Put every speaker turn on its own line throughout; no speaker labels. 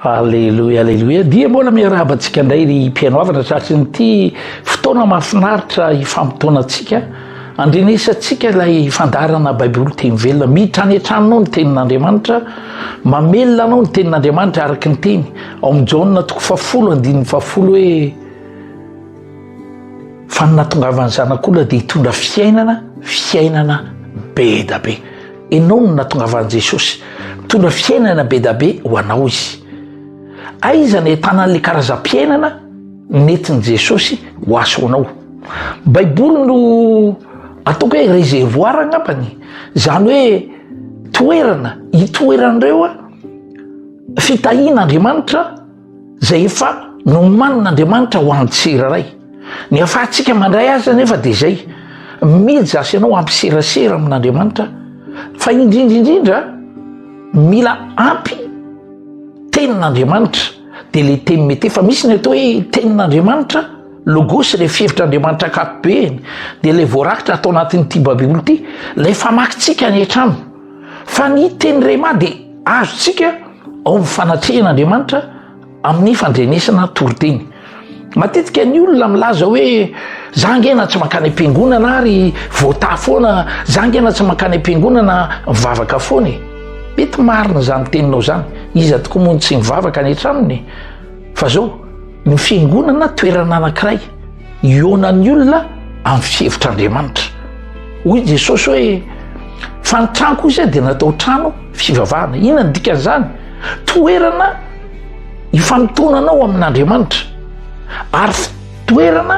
Aleloia, aleloia. Dia mbola miarahaba antsika indray ry mpihaino havana tratry ny ity fotoana mahafinaritra hifampitaona antsika. Andrenesantsika ilay fandarana Baiboly teny velona. Mitranetran anao ny tenin'Andriamanitra, mamelona anao ny tenin'Andriamanitra araka ny teny. Ao amin'ny Jaona toko fahafolo, andininy fahafolo hoe fa ny natongavan'ny zanak'olona dia hitondra fiainana, fiainana be da be. Ianao no natongavan'i Jesosy. Mitondra fiainana be dia be ho anao izy. Aiza no ahitana an'ilay karazam-piainana nentin'i Jesosy ho asonao? Baiboly no ataoko hoe réservoir angambany, izany hoe toerana itoeran'ireo fitahian'Andriamanitra izay efa nomanin'Andriamanitra ho an'ny tsirairay. Ny hahafahantsika mandray azy anefa dia izay mijasy ianao hampiserasera amin'Andriamanitra fa indrindra indrindra mila ampy tenin'Andriamanitra dia le teny mety efa misy ny atao hoe tenin'Andriamanitra logosy le fievitr'Andriamanitra akapobeany dia le voarakitra atao anatin'ity babiboly ity lay famakintsika any an-trano Fa ny teny rhema dia azontsika ao amin'ny fanatrehan'Andriamanitra amin'ny fandrenesana toriteny. Matetika ny olona milaza hoe za ngena tsy mankany am-piangonana ary voatà foana, za ngena tsy mankany am-piangonana mivavaka foana e. Mety marina izany teninao izany, iza tokoa moa no tsy mivavaka any an-tranony? Fa zao, ny fiangonana toerana anankiray Hihaona ny olona amin'ny fihevitr'Andriamanitra. Hoy Jesosy hoe, Fa ny tranoko izay dia natao trano fivavahana. Inona ny dikan'izany? Toerana ifanotonanao amin'Andriamanitra ary toerana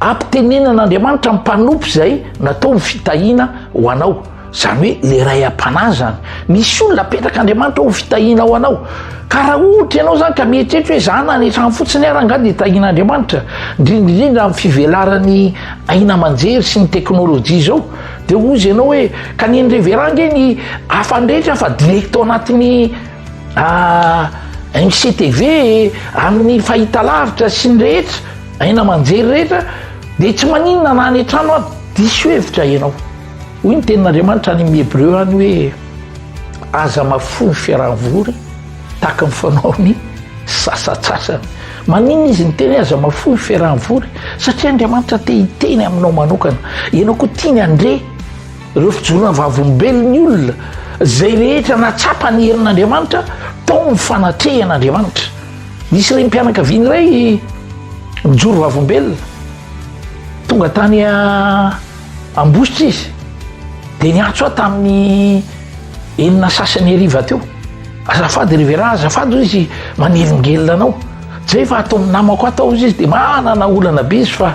ampitenenan'Andriamanitra ny mpanompo izay natao ny fitahiana ho anao. Zany hoe le ray am-panahy zany. Misy olona apetraka Andriamanitra ho fitahiana ho anao. Ka raha ohatra ianao zany ka mieritreritra hoe za na ny trano fotsiny ara angaha dia tahian'Andriamanitra, indrindraindrindra amin'ny fivelaran'ny aina aman-jery sy ny teknolojia izao, dia hozy ianao hoe ka ny an'i Reverend ange ny hafany rehetra fa direct ao anatin'ny ah, MCTV amin'ny fahitalavitra sy ny rehetra, aina aman-jery rehetra, dia tsy maninona na any an-trano ary diso hevitra ianao. Hoy ny tenin'Andriamanitra any amin'ny Hebreo any hoe aza mahafoy ny fiaraha-mivory tahaka ny fanaon'ny sasatsasany. Maninona izy ny teny aza mahafoy ny fiaraha-mivory? Satria Andriamanitra te hiteny aminao manokana. Ianao koa tiany handre ireo fijoroana vavolombelon'ny olona izay rehetra natsapa ny herin'Andriamanitra tao ny fanatrehan'Andriamanitra. Nisy renim-pianakaviana iray mijoro vavolombelona tonga tany Ambositra izy dia niantso ahy tamin'ny enina sasany hariva teo. Azafady Rivera, azafady hoy izy manelingelina anao. Tsy hay fa ataon'ny namako ahy tao izy dia manana olana be izy fa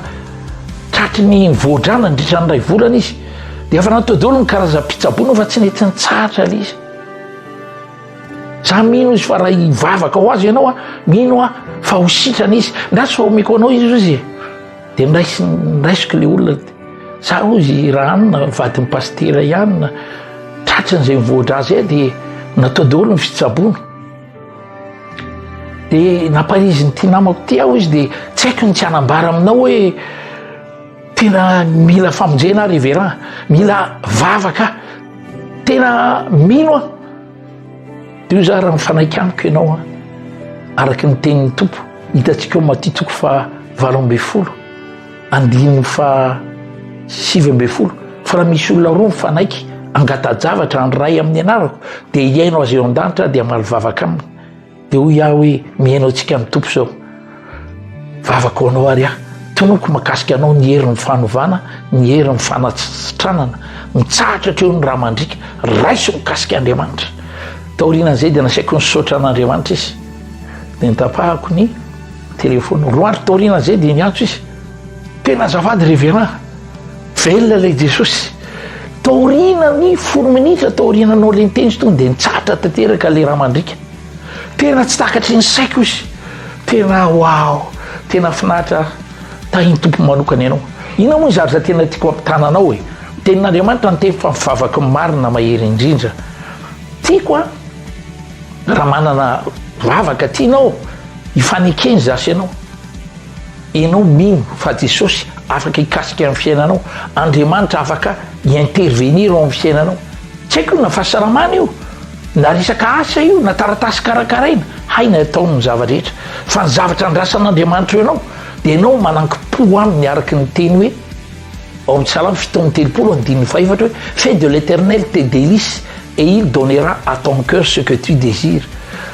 tratry ny voadrana nandritra ny iray volana izy. Dia efa natao daholo ny karazam-pitsaboana fa tsy nety nitsahatra ilay izy. Za mino izy fa raha hivavaka ho azy ianao, mino aho fa ho sitrana izy. Ndra tsy omeko anao izy hoy izy. Dia niraisiko ilay olona, sa hozy i Rahanina vadin'i Pasitera ihany tratran'izay mivoatra azy ahy dia natao daholo ny fitsaboana. Dia namparizin'ity namako ity aho izy dia tsy haiko ny tsy hanambara aminao hoe tena mila famonjena aho Reveran, mila vavaka, tena mino aho. Io zara ny fanaikaniko ianao a. Araka ny tenin'ny Tompo, hitantsika ao Matitoko fa valo ambin'ny folo, andininy fa sivy ambin'ny folo. Fa raha misy olona roa mifanaiky, angata-javatra ny Ray amin'ny anarako, dia hihaino azy eo an-danitra dia hamaly vavaka aminy. Dia hoy aho hoe, mihaino antsika amin'ny Tompo izao. Vavako anao ary aho. Tonoko makasika anao ny herin'ny fanovana, ny herin'ny fanatsitranana. Mitsahatra hatreo ny raha mandrika. Raiso mikasika Andriamanitra. Taorian'izay dia nasaiko nisaotra an'Andriamanitra izy. Dia nitapahako ny telefony. Roa andro taorian'izay dia niantso izy. Tena azafady reverend, velona ilay Jesosy. Taorianan'ny folo minitra taoriananao ilay niteny izy tonga dia nitsahatra tanteraka ilay raha mandriaka. Tena tsy takatry ny saiko izy. Tena wow, tena finaritra tahin'ny tompo manokana ianao. Inona moa izary za tena tiako ampitana anao e. Tenin'Andriamanitra ny teny fa vavaky ny marina mahery indrindra. Tiako a, raha manana vavaka tianao hifanekeny za sy ianao. Enao mino fa Jesosy afaka hikasika ny fiainanao? Andriamanitra afaka hi intervenir ao amin'ny fiainanao? Tsy haiko io na fahasalamana io, na resaka asa io, na taratasy karakaraina, hay ny ataony ny zava-drehetra. Fa ny zavatra andrasan'Andriamanitra eo anao dia enao manankim-po aminy araka ny teny hoe ao amin'ny salamo fito amby telopolo andininy fahaefatra hoe fais de l'Eternel tes delices, Et il donnera à ton cœur ce que tu désires,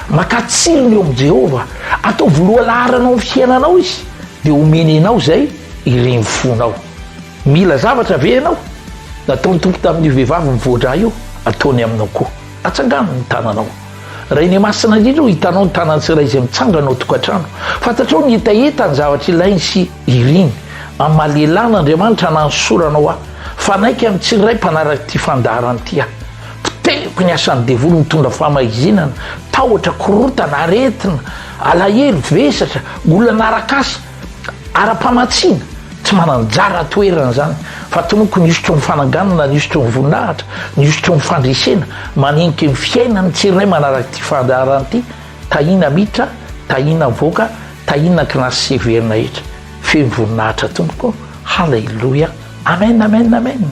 maka tsilo ny eo amin'i Jehovah, ataovy lohalaharana ao amin'ny fiainanao izy, dia homeny anao izay irin'ny fonao. Mila zavatra ve ianao? Nataon'ny Tompo tamin'io vehivavy mivoa-drà io, ataony aminao koa. Atsangano ny tananao. Rainay Masina indrindra ô, hitanao ny tanan'ny tsirairay izay mitsangana ao an-tokantrano. Fantatrao ny hetaheta, ny zavatra ilainy sy iriny. Amalielana Andriamanitra nanosorana ho ahy. Fanaiky amin'ny tsirairay mpanaraka ity fandaharana ity aho. Poteriko ny asan'ny devoly mitondra famahizinana, tahotra, korontana, aretina, alahelo, vesatra, olana arak'asa, ara-pamatsiana. Tsy manan-jara toerana izany, fa tonoko ny hosotry ny fananganana, ny hosotry ny voninahitra, ny hosotry ny fandresena, manenika ny fiainan'ny tsirairay manaraka ity fandaharana ity. Tahiana miditra, tahiana mivoaka, tahiana kinasy sy heverina hetra. Feno voninahitra tompoko haleloia amen amen amen.